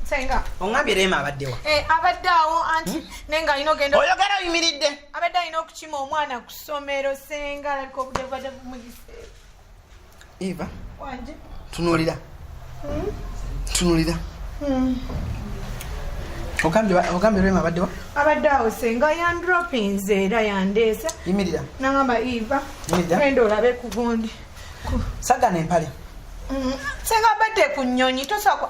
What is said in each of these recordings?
senga oŋambye rema abaddewa eh, abadde awo anti hmm? naye nga alina ogenda oyogera oyimiridde abadde alina okukima omwana ku ssomero senga alabika obudde bubadde bumuyise Eva. Wanje. Tunulira. Mm. Tunulira. Mm. ogambye rema abadde wa abadde awo senga yandropinze era yandeesa yimirira nagamba eva enda olabe ku gundi sagana empale mm, senga abadde ku nyonyi tosakwa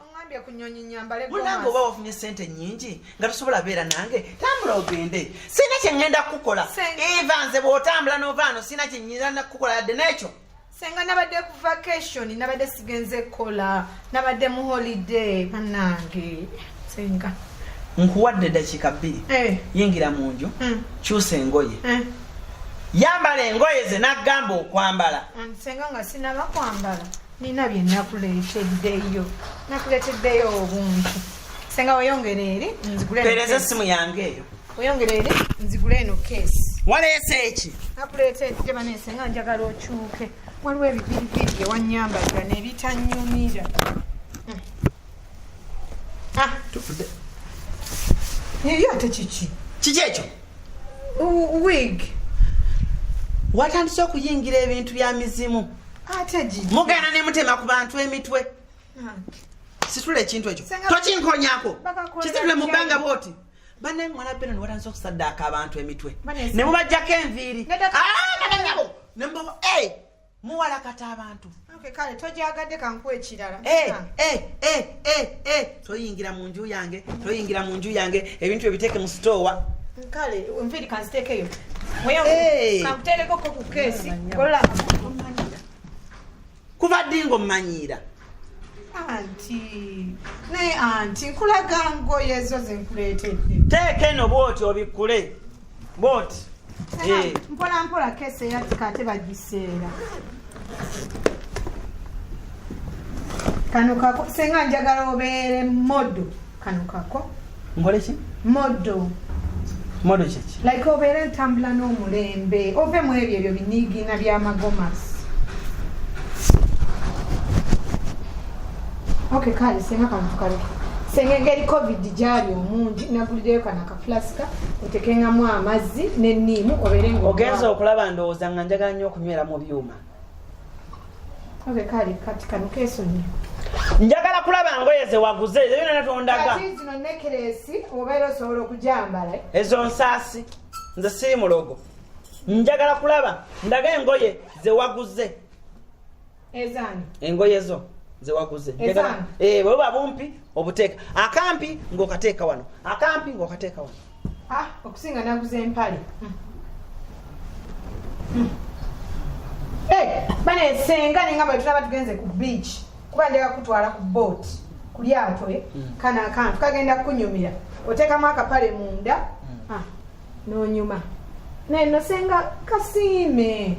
ongambye ku nyonyi nyambale munange oba wafunye sente nyingi nga tosobola beera nange tambula ogende sirina kyeŋŋenda kukukola eva nze bw'otambula n'ovaano sirina kyenyinza nakukukola yadde n'ekyo senga nabadde ku vacation nabadde sigenze kukola nabadde mu holiday banange senga nkuwadde dakiika bbiri eh. yingira mu nju hmm. kyusa engoye eh. yambala engoye ze nagamba okwambala hmm, senga nga sinaba kwambala nina bye nakuleeteddeyo nakuleeteddeyo obuntu senga weyongere eri nzigulepereza essimu yange eyo weyongere eri nzigule eno keesi waleese eki nakuleetedde baneese nga njagala okyuke waliwo ebipiripiri ewanyambaga nebitanyumira hmm. ah. eyo ate kiki kiki ekyo wig watandise okuyingira ebintu bya mizimu mugenda ne mutema ku bantu emitwe situla ekintu ekyo tokinkonyako kisitule mu bbanga bwoti banaye mwana beno niwatandise okusaddaaka abantu emitwe ne mubajjako enviiri ah, muwalakata abantu kale togyagadde kankuwa ekirala eh, eh, eh, toyingira mu nju yange toyingira mu nju yange ebintu ebiteeke mu sitoowa kale nviri kanziteekeyo kankuteerekoko ku keesi kuva ddi ngaomanyiira anti naye anti nkulaga ngoye ezo zenkuleetedde teeka eno bwoti obikkule bwoti eh. mpola mpola kese yatika ate bagiseera kano senga njagala obeere modo kano kako nkole ki modo modo kyeki like obeera entambula n'omulembe ove mu ebyo ebyo biniigiina byamagomasi ok kale senga kano tukaleke senga engeri covid gyali omungi nagulireyo kano akafulasika otekengamu amazzi neniimu obeere nga ogenza okulaba ndowooza nga njagala nnyo okunywera mu byuma Oge kali kati kano kesonyi. Njagala kulaba ngoye ze waguze ezo yona natondaga. Kati zino necklace obeera osobola okujambala. Ezo nsasi nze siri mulogo. Njagala kulaba ndaga engoye ze waguze. Ezani. Engoye zo ze waguze. Ezani. Eh baba bumpi obuteka. Akampi ngokateka wano. Akampi ngokateka wano. ah okusinga naguze empale hmm. Hmm. Eh, bana esenga nengamba yetulaba tugenze ku beach kuba njagala kutwala ku boat ku lyato eh? hmm. kana akantu kagenda kunyumira oteekamu akapale munda ah, nonyuma naye nosenga kasiime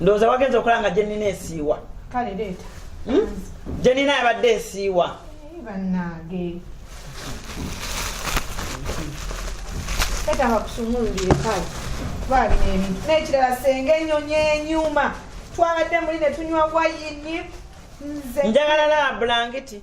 ndowooza wagenza okola nga gyenina esiiwa kale leeta hmm? gyenina yabadde esiiwa eh, bannange tetaba kusumululire kale twalina ebintu n'ekirala senga enyonyi enyuma twabadde muli ne tunywa wayini nze njagala laba bulangiti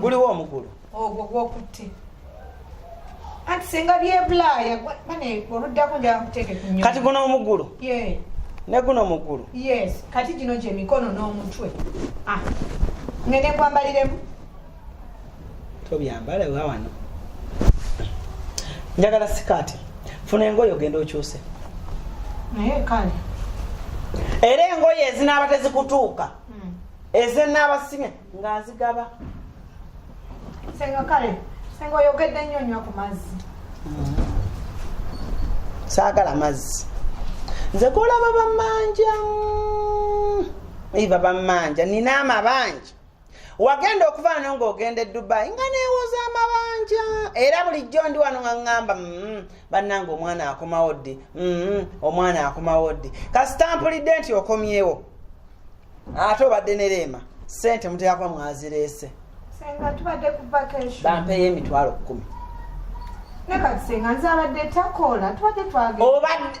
guliwo omugulu ogwo gwokutte anti singa byebulaaya oluddako njakuteeke kunyo kati guno omugulu ne guno omugulu yes kati gino gyemikono n'omutwe ah. ngende kwambaliremu tobyambala ewa wano njagala sikaati funa engoye ogenda okyuse naye kale era engoye ezinaaba tezikutuuka hmm. ezenaabasimya nga nzigaba senga kale senga oyogedde nnyo nywa ku mazzi hmm. saagala mazzi nze golaba bamanja hmm. iva bamanja nina amabanja wagenda okuvaano ng'ogenda edubayi nga neewoza amabanja era bulijjo ndi wano nga ŋŋamba mm, bannanga omwana akomawo ddi mm, omwana akomawo ddi kasitampulidde nti okomyewo ate obadde ne reema sente muteekakuba mwazireese bampeeyo emitwalo kkumi obadde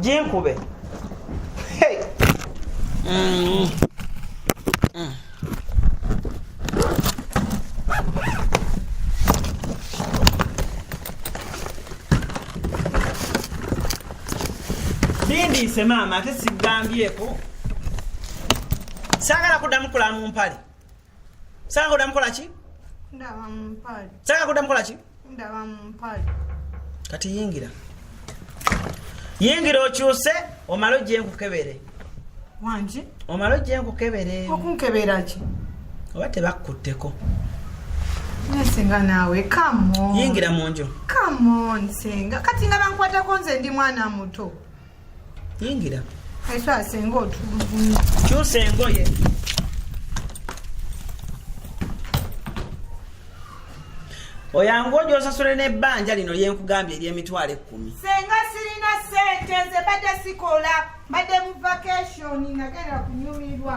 jinkube hey. mm. Mm. bindiise maama ate sigambyeeko saagala kuddamu kulamu mpale saka kuda mukola ki ndaba mumpale saka kuda mukola ki ndaba mumpale kati yingira yingira okyuse omale ojje nkukebere wangi omale ojje nkukebere okunkebera ki oba tebakkutteko Naye senga naawe kamo yingira mu nju kamon senga kati nga bankwatako nze ndi mwana muto yingira ese asenga otulugunya kyusa engoye oyangu oja osasule n'ebbanja lino lyenkugambye ery'emitwalo ekkumi senga sirina sente nze badde sikola badde mu vacation nagenda kunyumirwa